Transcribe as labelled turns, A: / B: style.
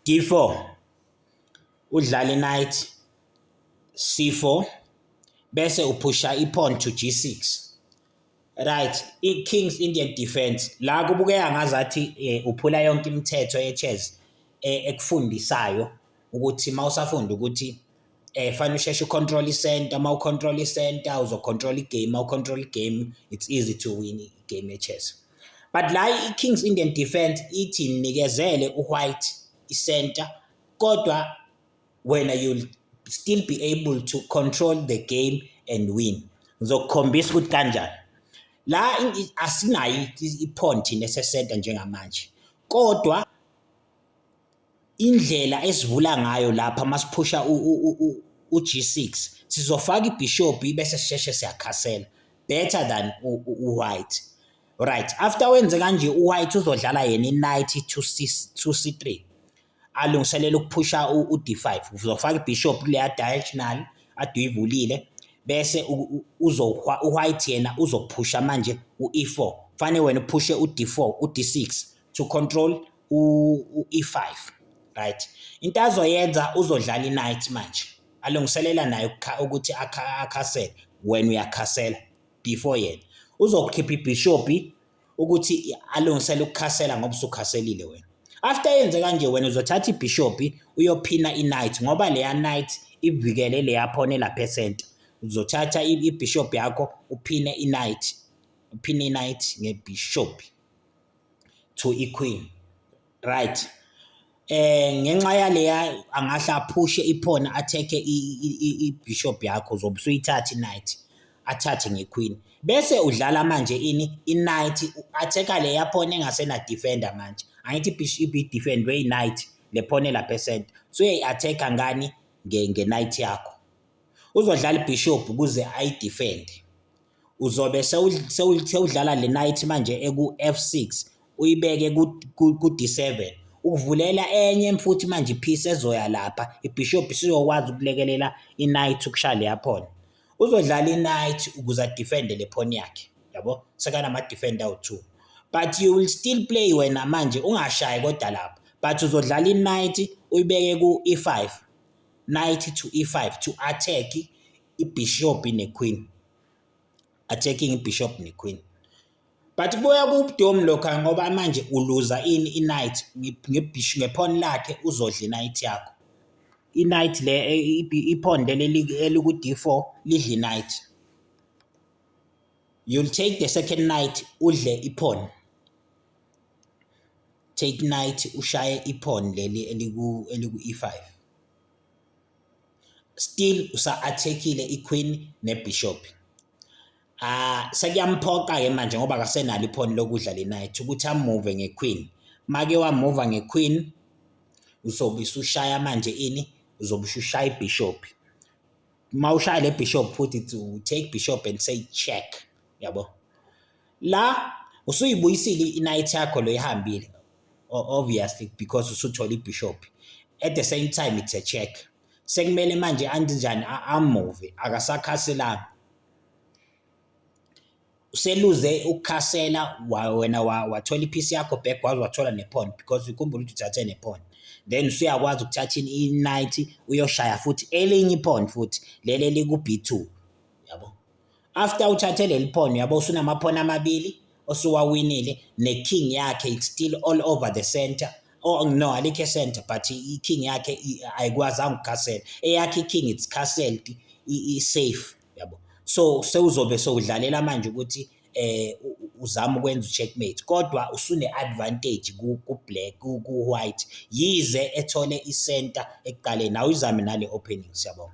A: D4 udlala i-knight C4 bese uphusha i-pawn to G6 right i-king's indian defense la kubukeka ngazathi eh, uphula yonke imithetho ye-chess eh, ekufundisayo ukuthi uma usafunda ukuthi Eh fanele usheshe ucontrol i-center, uma ucontrol i-center uzocontrol i-game, uma ucontrol i-game it's easy to win i-game ye-chess. But la i-Kings Indian defense ithi nikezele u-white i-center kodwa wena you'll still be able to control the game and win. Ngizokukhombisa ukuthi kanjani. La asinayo i-pawn thina ese-center njengamanje kodwa Indlela esivula ngayo lapha masiphusha u-G6 sizofaka ibhishobhi bese sisheshe siyakhasela better than u-white right after wenze kanje u-white uzodlala yena i-knight to c3 alungiselela ukuphusha u-d5 uzofaka ibhishop kuleya diagonal aduyivulile bese uzohwa u-white yena uzophusha manje u-e4 kufanele wena uphushe u-d4 u-d6 to control u-e5 right into azoyenza uzodlala i-night manje alungiselela naye ukuthi akhasele wena uyakhasela before yena uzokukhipha ibhishopi ukuthi alungisele ukukhasela ngoba usukhaselile wena after yenze kanje wena uzothatha ibhishopi uyophina i-night ngoba leya night ivikele leya phone lapha esenta uzothatha ibhishopi yakho uphine i-night uphine i-night ngebhishopi to iQueen right eh ngenxa yaleya angahle aphushe iphone athekhe ibishop yakho uzobe usuyithatha inight athathe ngeQueen bese udlala manje ini inight athekha leya phone engasena defender manje angithi ibishop defend way night le phone lapha esenta so uyayi-athekha ngani nge-night yakho uzodlala ibishop ukuze ayidefende uzobe sewudlala le night manje eku-F6 uyibeke ku-D7 ukuvulela enye futhi manje iphisi ezoya lapha ibishop siyokwazi ukulekelela i-night ukushaya leya phone uzodlala i-night ukuze adefende le phone yakhe yabo sekanama-defend awu-two but you will still play wena manje ungashayi kodwa lapho but uzodlala i-night uyibeke ku-e5 night to e5 to attack ibishop nequeen attacking ibishop nequeen but kubuya kubudomu lokho ngoba manje uluza ini inight ngebhishi ngephone lakhe uzodla inight yakho inight le e, iphone leli eliku D4 lidla inight you'll take the second night udle iphone take night ushaye iphone leli eliku eliku E5 still usa-athekile iqueen nebishop ah sekuyamphoqa-ke manje ngoba kasenalo iphoni lokudla le night ukuthi amuve ngequeen make wamuva ngequeen uzobe usushaya manje ini uzobe usushaya ibishop uma ushaya le bishop futhi to take bishop and say check yabo la usuyibuyisile i-night yakho lo ihambile obviously because usuthole ibishop at the same time it's a check sekumele manje anti njani amove akasakhaselanga useluze ukukhasela wena wathola iphisi yakho back waze wathola nephone because ukhumbula ukuthi uthathe nephone then usuyakwazi ukuthatha i-90 uyoshaya futhi elinye iphone futhi leli eliku-b2 After uthathe leli phono yabo usunamaphono amabili osuwawinile ne-king yakhe it's still all over the center oh no alikho e-center but i-king yakhe ayikwazanga ukukhasela eyakhe i-king it's castled i-safe yabo so sewuzobe sewudlalela manje ukuthi eh uzama ukwenza ucheckmate kodwa usune advantage ku black ku white yize ethole i-center ekuqaleni awuyizame nale opening siyabonga